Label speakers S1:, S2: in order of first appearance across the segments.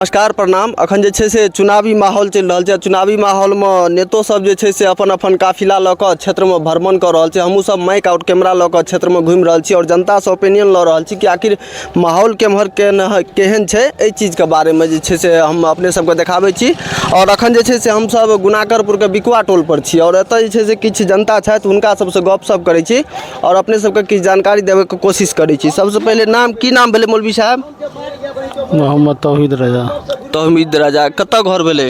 S1: नमस्कार प्रणाम अखन जे छै से चुनावी माहौल चलि रहल छै चुनावी माहौल मे नेतो सब जे छै से अपन अपन काफिला लऽ कऽ क्षेत्र मे भ्रमण कऽ रहल छै हमहुँ सब माइक आओर कैमरा लऽ कऽ क्षेत्र मे घुमि रहल छी आओर जनता सँ ओपिनियन लऽ रहल छी कि आखिर माहौल केम्हर केहन है केहन छै एहि चीज के बारे मे जे छै से हम अपने सब के देखाबै छी आओर अखन जे छै से हम सब गुनाकरपुर के बिकुआ टोल पर छी आओर एतऽ जे छै से किछु जनता छथि हुनका सब सँ गप सप करै छी आओर अपने सब के किछु जानकारी देबै के कोशिश करै छी सब सँ पहिले नाम की नाम भेलै मौलवी साहेब मोहम्मद
S2: तौहीद रजा तहमीद राजा
S1: कतऽ घर भेलै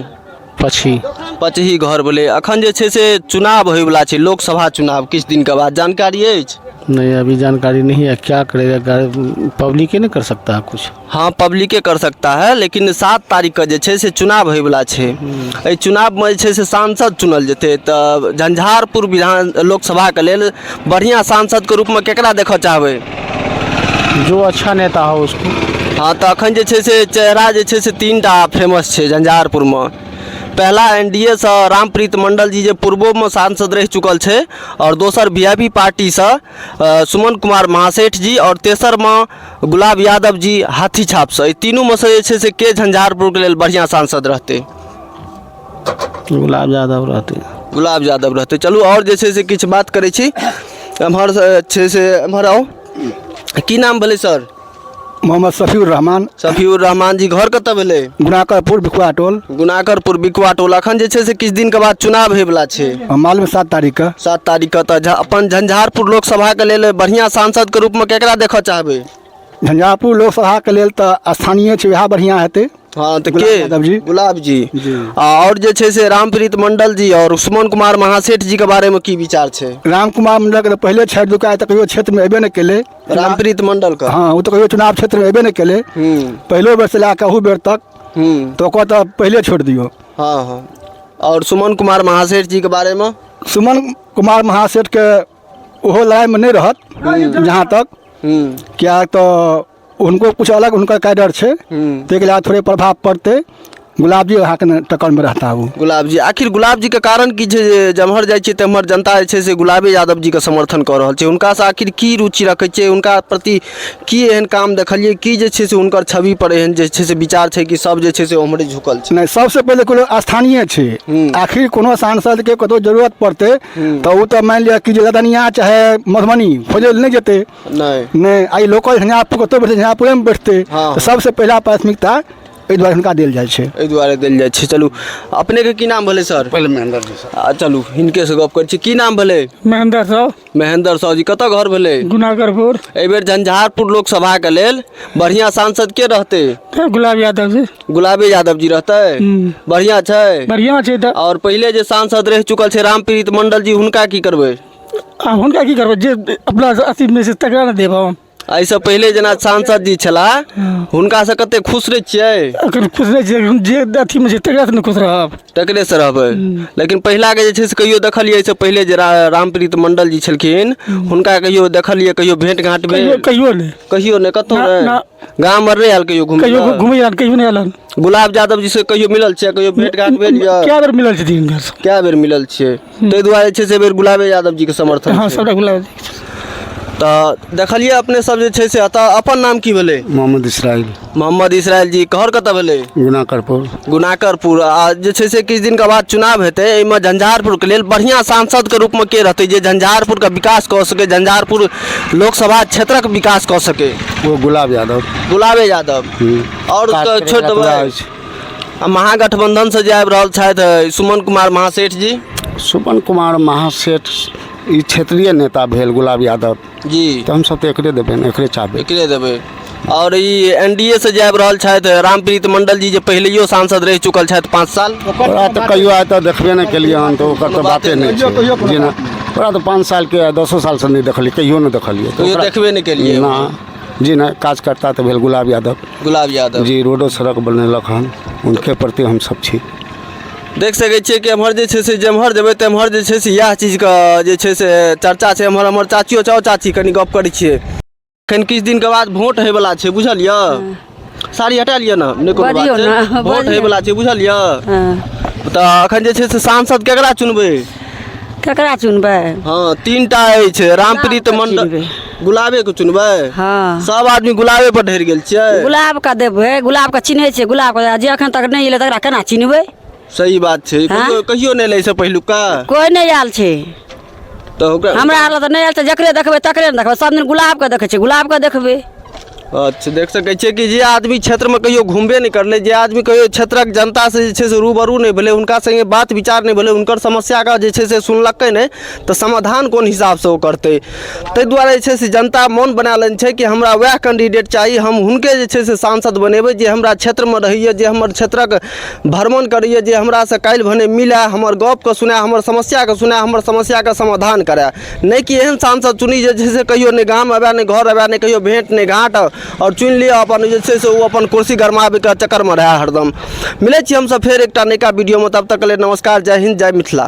S1: पछी पचही घर भेलै अखन जे छै से चुनाव होयवला छै लोकसभा चुनाव किछु दिनके बाद जानकारी अछि नहीं अभी जानकारी
S2: नहीं है क्या करेगा गाड़ी- पब्लिक ही नहीं कर सकता है कुछ हँ पब्लिके कर
S1: सकता है लेकिन सात तारीखके जे छै से चुनाव होयवला छै एहि चुनावमे जे छै से सांसद चुनल जेतै तऽ झंझारपुर विधान लोकसभाके लेल बढ़िआँ सांसदके रूपमे केकरा देखऽ चाहबै
S2: जो अच्छा नेता हो उसको हँ तऽ एखन जे
S1: छै से चेहरा जे छै से तीन टा फेमस छै झंझारपुरमे पहिला एन डी ए सँ रामप्रीत मण्डल जी जे पूर्वोमे सांसद रहि चुकल छै आओर दोसर वी आइ पी पार्टी सँ सुमन कुमार महासेठ जी आओर तेसरमे गुलाब यादव जी हाथी छाप सँ एहि तीनूमे सँ जे छै से के झंझारपुरके लेल बढ़िऑं सांसद रहतै गुलाब
S2: यादव रहतै गुलाब यादव रहतै
S1: चलू आओर जे छै से किछु बात करै छी एम्हर से छै से एम्हर आउ की नाम भेलै सर मोहम्मद
S3: शफीउर रहमान शफीउर रहमान जी
S1: घर कतऽ भेलै गुनाकरपुर बिकुआ
S3: टोल गुनाकरपुर बिकुआ
S1: टोल अखन जे छै से किछु दिनके बाद चुनाव होयवला छै मालूम है सात तारीख
S3: के सात तारीख के तऽ झा-
S1: अपन झंझारपुर लोकसभाके लेल बढ़िआँ सांसदके रूपमे केकरा देखऽ चाहबै झंझारपुर
S3: लोकसभाके लेल तऽ स्थानीय छै वएह बढ़िआँ हेतै हँ तऽ गुलाब के यादव
S1: जी गुलाब जी जी आ आओर जे छै से रामप्रीत मंडल जी आओर सुमन कुमार महासेठ जी के बारे मे की विचार छै राम कुमार मंडल के तऽ
S3: पहिले छठि दुकाय तऽ कहियो क्षेत्र मे एबे नहि केले रामप्रीत मंडल
S1: के हँ ओ तऽ कहियो चुनाव क्षेत्र
S3: मे एबे नहि केले हूँ पहिलो बेर से लए कऽ अहू बेर तक हूँ तऽ ओकर तऽ पहिले छोड़ दियौ हँ हँ
S1: आओर सुमन कुमार महासेठ जी के बारे मे सुमन कुमार
S3: महासेठ के ओहो लड़ाई मे नहि रहत जहाँ तक हूँ किया तऽ हुनको किछु अलग हुनकर कैडर छै ताहिके लए थोड़े प्रभाव पड़तै गुलाब जी अहाँके ने टक्करमे रहता ओ गुलाब जी आखिर गुलाब
S1: जीके कारण की छै जे जम्हर जाइ छियै तम्हर जनता जे छै से गुलाबे यादव जीके समर्थन कऽ रहल छै हुनकासँ आखिर की रुचि रखै छियै हुनका प्रति की एहन काम देखलियै की जे छै से हुनकर छविपर एहन जे छै से विचार छै कि सभ जे छै से ओम्हरे झुकल छै नहि सबसँ पहिले कोनो
S3: स्थानीय छै हूँ। आखिर कोनो सांसदके कतौ जरूरत पड़तै तऽ ओ तऽ मानि लिअ कि जे लदनिया चाहे मधुबनी खोजै लए नहि जेतै नहि नहि आइ लोकल झंझारपुर कतहु बैठतै झंझारपुरेमे बैठतै हँ। तऽ सबसँ पहिला प्राथमिकता एहि दुआरे हुनका देल जाइ छै एहि दुआरे देल जाइ छै चलू
S1: अपनेके की नाम भेलै सर पहिले महेंद्र जी सर आ
S2: चलू हिनके से गप
S1: करै छी की नाम भेलै महेंद्र साहु
S4: महेंद्र साहु जी कतऽ
S1: घर भेलै गुनागरपुर एहिबेर
S4: झंझारपुर
S1: लोकसभाके लेल बढ़िआँ सांसद के रहतै तऽ गुलाब यादव जी
S4: गुलाबे यादव जी
S1: रहतै हम्म। बढ़िआँ छै बढ़िआँ छै तऽ आओर
S4: पहिले जे सांसद
S1: रहि चुकल छै रामप्रीत मंडल जी हुनका की करबै आ हुनका की
S4: करबै जे अपना अथीमे छै तकरा ने देब हम एहिसँ पहिले जेना
S1: सांसद जी छलाह हुनकासँ कते खुश नहि छियै एखन खुश नहि छै एखन
S4: जे अथीमे छै तकरासँ ने खुश रहब तकरेसँ रहबै
S1: लेकिन पहिलाके जे छै से कहियो देखलियै एहिसँ पहिले जे रा- रामप्रीत मंडल जी छलखिन हुनका कहियो देखलियै कहियो भेंट घाँट कहियो भेल कहियो नहि कहियो
S4: नहि कतहु ना- नहि ना।
S1: गाम आर नहि आयल कहियो घुमय कहियो लए घुमै हन कहियो नहि एलनि
S4: गुलाब यादव जी से
S1: कहियो मिलल छियै कहियो भेट घाट भेल य कए बेर मिलल छथिन हिनका
S4: से कए बेर मिलल
S1: छियै ताहि दुआरे जे छै से एहि बेर गुलाबे यादव जी के समर्थन हँ छै सबटा गुलाब जी के
S4: छथिन। तऽ
S1: देखलियै अपने सब जे छै से एतऽ अपन नाम की भेलै मोहम्मद इसराइल
S2: मोहम्मद इसराइल
S1: जी कहर कतऽ भेलै गुना करपुर
S2: गुनाकरपुर
S1: आ जे छै से किछु दिनके बाद चुनाव हेतै एहिमे झंझारपुरके लेल बढ़िआँ सांसदके रूपमे के रहतै जे झंझारपुरके विकास कऽ सकै झंझारपुर लोकसभा क्षेत्रक विकास कऽ सकै वो गुलाब यादव
S2: गुलाबे यादव
S1: आओर काज करैवला छोड़ि पूरा देबै अछि। आ महागठबन्धनसँ जे आबि रहल छथि अ, सुमन कुमार महासेठ जी सुमन कुमार
S2: महासेठ ई क्षेत्रीय नेता भेल गुलाब यादव जी तऽ हमसभ तऽ
S1: एकरे देबै
S2: ने एकरे चाहबै एकरे देबै
S1: आओर ई एन डी एसँ जे आबि रहल छथि रामप्रीत मंडल जी जे पहिलैयो सांसद रहि चुकल छथि पाँच साल ओकरा तऽ कहियो आइ
S2: तऽ देखबे नहि केलियै हन तऽ ओकर तऽ बाते नहि छै जेना ओकरा तऽ पाँच सालके आ दसो सालसँ नहि देखलियै कहियो नहि देखलियै कहियो ओकरा- देखबे नहि केलियै
S1: ना जी
S2: नहि कार्यकर्ता तऽ भेल गुलाब यादव गुलाब यादव जी
S1: रोडो सड़क बनेलक
S2: हन हुनके प्रति हमसभ छी देख सकै
S1: छियै कि एम्हर जे छै से जेम्हर जेबै तेम्हर जे छै से इएह चीजके जे छै से चर्चा छै एम्हर हमर चाचियो छै आउ चाची कनि गप्प करै छियै एखन किछु दिनके बाद वोट होयवला छै बुझलियै साड़ी हटा लिअ ने नहि कोनो बात बजियौ छै। ने, वोट बजियौ। होयवला छै बुझलियै हँ तऽ एखन जे छै से सांसद केकरा चुनबै केकरा
S5: चुनबै
S1: हँ तीन टा अछि रामप्रीत
S5: गुलाबके
S1: मंडल चुनबै। गुलाबे के चुनबै हँ सब
S5: आदमी गुलाबे
S1: पर ढेर गेल छियै गुलाबके देबै
S5: गुलाबके चिन्है छियै गुलाबके जे एखन तक नहि एलै तकरा केना चिन्हबै सही बात छै
S1: हाँ? कहियो कहियो नहि एलै से
S5: पहिलुका
S1: कोइ नहि आयल छै
S5: तऽ
S1: ओकरा हमरा आर लए तऽ नहि आयल छै जकरे
S5: देखबै तकरे ने देखबै सब दिन गुलाबके देखै छै गुलाबके देखबै अच्छा देख
S1: सकै छियै कि जे आदमी क्षेत्रमे कहियो घुमबे नहि करलै जे आदमी कहियो क्षेत्रक जनतासँ जे छै से रूबरू नहि भेलै हुनका संगे बात विचार नहि भेलै हुनकर समस्याके जे छै से सुनलकै नहि तऽ समाधान कोन हिसाबसँ ओ करतै ताहि दुआरे जे छै से जनता मोन बना लेने छै कि हमरा वएह कैंडिडेट चाही हम हुनके जे छै से सांसद बनेबै जे हमरा क्षेत्रमे रहैए जे हमर क्षेत्रक भ्रमण करैए जे हमरासँ काल्हि भने मिलय हमर गपकेँ सुनय हमर समस्याकेँ सुनय हमर समस्याके समाधान करय नहि कि एहन सांसद चुनी जे छै से कहिओ नहि गाम अबय नहि घर अबय नहि कहिओ भेँट नहि घाँट आओर चुनि लिअ अपन जे छै से ओ अपन कुर्सी गरमाबयके चक्करमे रहय हरदम मिलैत छी हमसभ फेर एकटा नयका वीडियोमे तब तकके लेल नमस्कार जय हिन्द जय मिथिला